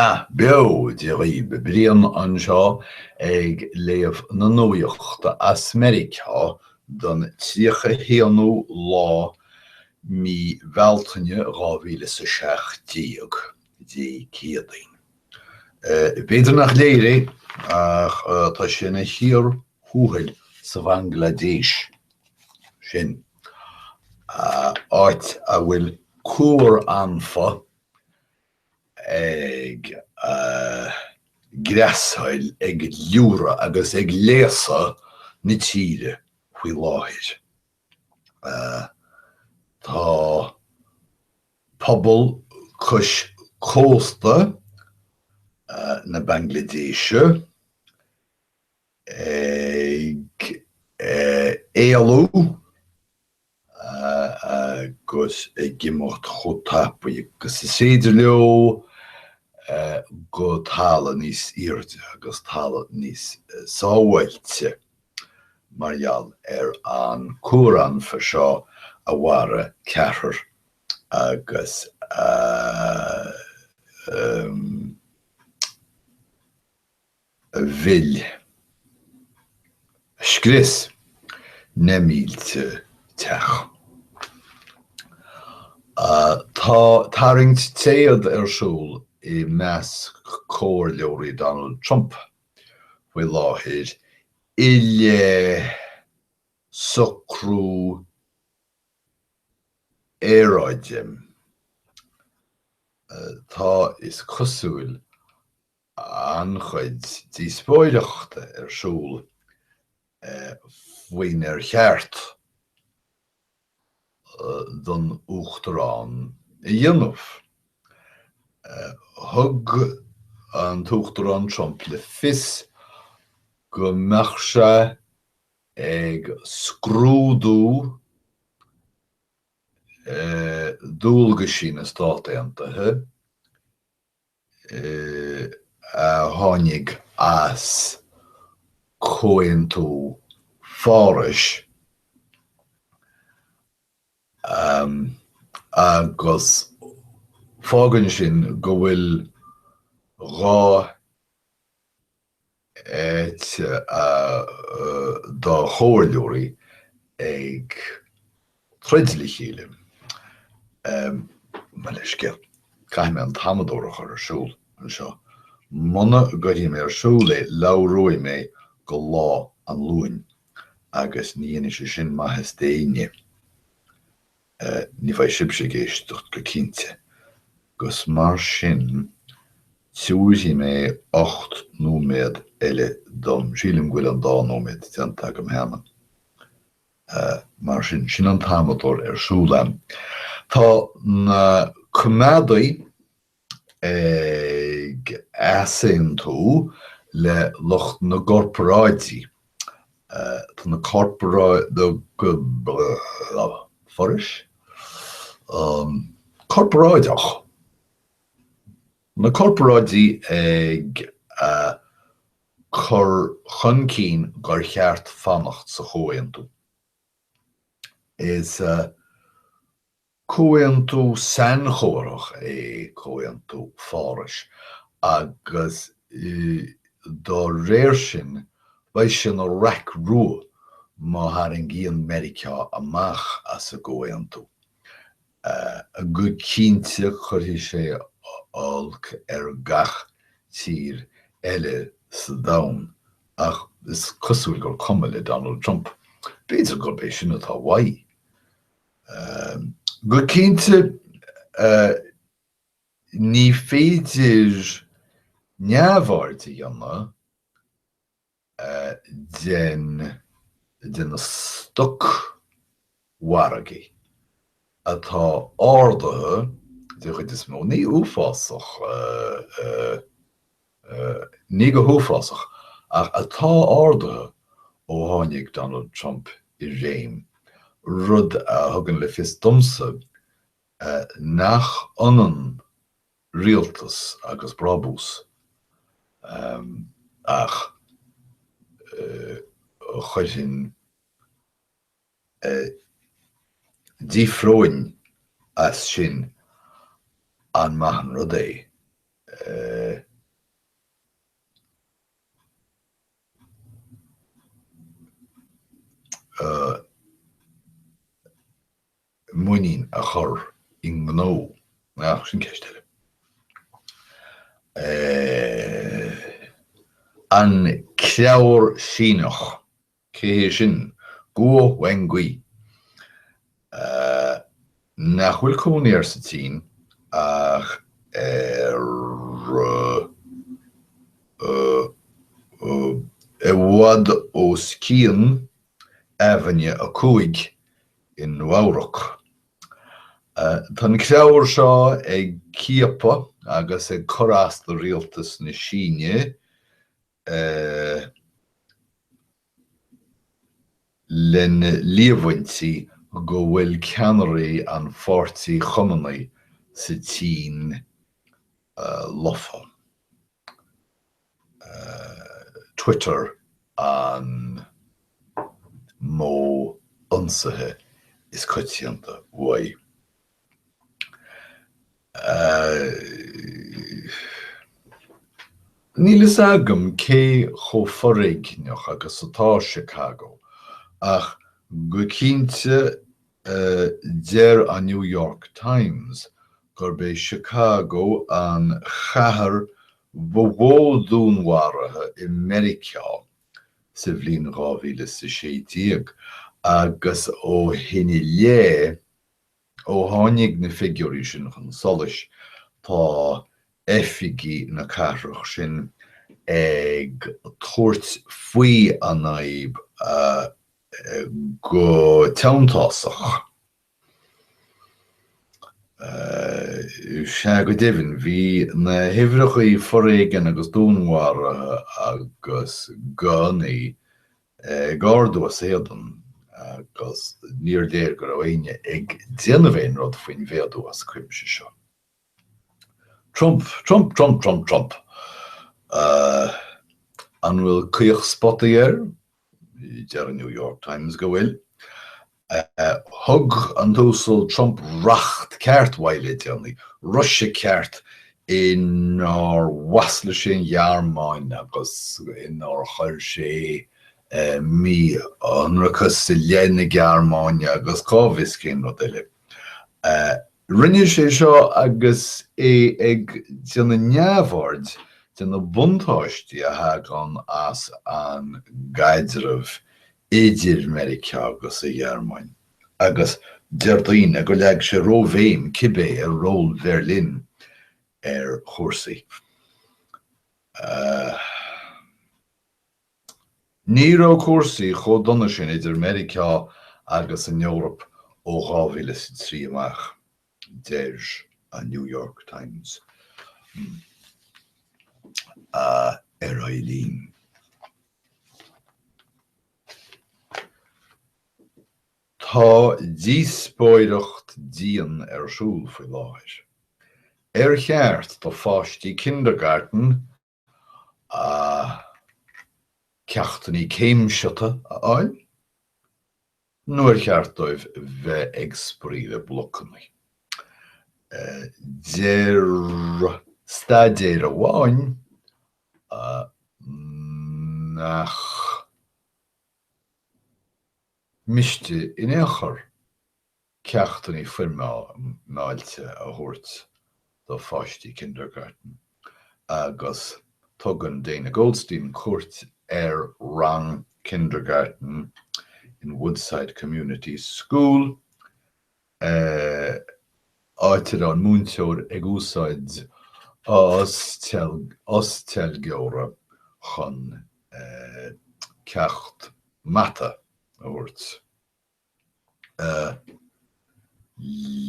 Á, bail ó Dhia oraibh! Brian anseo ag léamh na nuaíochta as Meiriceá don tríocha haonú lá mí Bhealtaine dhá mhíle is a seacht déag, Dé Céadaoin. B'fhéidir nach léir é, ach tá sé ina chíor thuathail sa Bhanglaidéis sin, áit a bhfuil cuaranfa ag greasáil, ag liúradh agus ag léasadh na tíre faoi láthair. Tá Pobal cois cósta na Banglaidéise ag éalú agus ag imeacht chomh tapaidh agus is féidir leo go talamh níos airde agus talamh níos sábháilte mar gheall ar an cuaranfa seo a mharaigh ceathrar agus a mhill, a scrios, na mílte teach. Tá tarraingt téad ar siúl i measc comhairleoirí Donald Trump faoi láthair i leith socrú aeráide. Tá, is cosúil, an-chuid díospóireachta ar siúl faoinar cheart don Uachtarán a dhéanamh. Thug an tUachtarán Trump le fios go mbeadh sé, ag scrúdú dualgaisí na Stát Aontaithe a tháinig as Comhaontú Phárais agus fágann sin go bhfuil dhá thaobh dá chomhairleoirí ag troid le chéile. Mo leithscéal, caithfidh mé an t-amadóir a chur ar siúl anseo. Muna gcuirfidh mé ar siúl é labhróidh mé go Lá an Luain agus ní dhéanfaidh sé sin maitheas d'éinne. Ní bheidh sibhse ag éisteacht go cinnte, 'gus mar sin tabharfaidh mé ocht nóiméad eile dom, sílim go bhfuil an dá nóiméad déanta agam cheana. Mar sin sin an t-amadóir ar siúl a'm. Tá na coimeádaigh ag easaontú le lucht na gcorparáidí, tá na forais chorparáideacha, na corparáidí ag cur chun cinn gur cheart fanacht sa chomhaontú, is Comhaontú sainchomharthach é Comhaontú Phárais agus dá réir sin beidh sé ina raic rua má tharraingíonn Meiriceá amach as an gcomhaontú. Go cinnte cuirfidh sé olc ar gach tír eile sa domhan, ach is cosúil gur cuma le Donald Trump. B'fhéidir gurb é sin atá uaidh. Go cinnte ní féidir neamhaird a dhéanamh de na stocmhargaí atá ardaithe den chuid is mó, ní go huafásach Ní go huafásach, ach atá ardaithe ó tháinig Donald Trump i réim, rud a thugann le fios domsa nach ionann rialtas agus brábús, ach chuirfinn. d'fhiafróinn as sin an maith an rud é muinín a chur i ngnó, ach sin ceist eile. An Creabhar Síneach. Cé sin? Guo Wengui. Ahh. Nach bhfuil cónaí air sa tSín ach ar. ahh. i bhfad os cionn Aibhinne a Cúig i Nua-Eabhrac. Tá an creabhar seo ag ciapadh agus ag cur as do rialtas na Síne lena líomhaintí go bhfuil ceannairí an Pháirtí Chumannaigh sa tSín lofa. Twitter an modh ionsaithe is coitianta uaidh. Níl fhios agam cé chomh foréigneach agus atá Chicago, ach go cinnte deir an New York Times gurb é Chicago an chathair ba mhó dúnmharaithe i Meiriceá sa bhliain dhá mhíle is a sé déag, agus ó shin i leith, Ó tháinig na figiúirí sin chun solais, tá oifigigh na cathrach sin ag tabhairt faoi a n-aib go teanntásach. Sea, go deimhin, bhí na huimhreacha foréigin agus dúnmharaithe agus gunnaí ag ardú as éadan agus níor léir go raibh éinne ag déanamh aon rud faoin mhéadú as cuimse seo. Trump, Trump, Trump, Trump, Trump! An bhfuil caochspota air? Deir an New York Times go bhfuil. Thug an tUasal Trump racht ceart uaidh le déanaí, ruaiseadh ceart inar mhaslaigh sé an Ghearmáin agus inar chuir sé mí-ionracas i leith na Gearmáine agus cá bhfios cén rud eile. Rinne sé seo agus é ag déanamh neamhaird de na buntáistí a thagann as an gcaidreamh idir Meiriceá agus an Ghearmáin, agus deir daoine gur leag sé róbhéim cibé ar ról Berlin ar chúrsaí. Ní raibh cúrsaí chomh dona sin idir Meiriceá agus an Eoraip ó 2003 amach. Deir an New York Times, ar aghaidh linn. Tá díospóireacht dian ar siúl faoi láthair, ar cheart do pháistí kindergarten a ceachtannaí céimseata a fháil nuair ba cheart dóibh bheith ag spraoi le blocannaí. Deir staidéar amháin nach miste in aon chor. ceachtannaí foirmeáilte a thabhairt do pháistí Kindergarten agus tugann Dana Goldstein cuairt ar rang Kindergarten in Woodside Community School, áit a raibh an múinteoir ag úsáid osteilgeora chun ceacht mata a thabhairt. a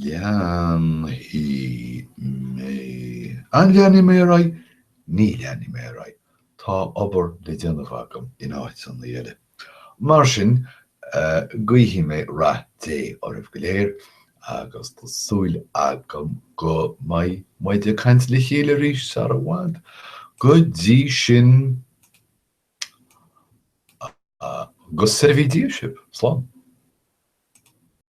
leanfaidh mé, an leanfaidh mé ar aghaidh? ní leanfaidh mé ar aghaidh, tá obair le déanamh agam in áiteanna eile. Mar sin, guífidh mé rath Dé oraibh go léir agus tá súil agam go mbeidh muid ag caint le chéile arís sara bhfad. Go dtí sin! Go soirbhí Dia daoibh! Slán.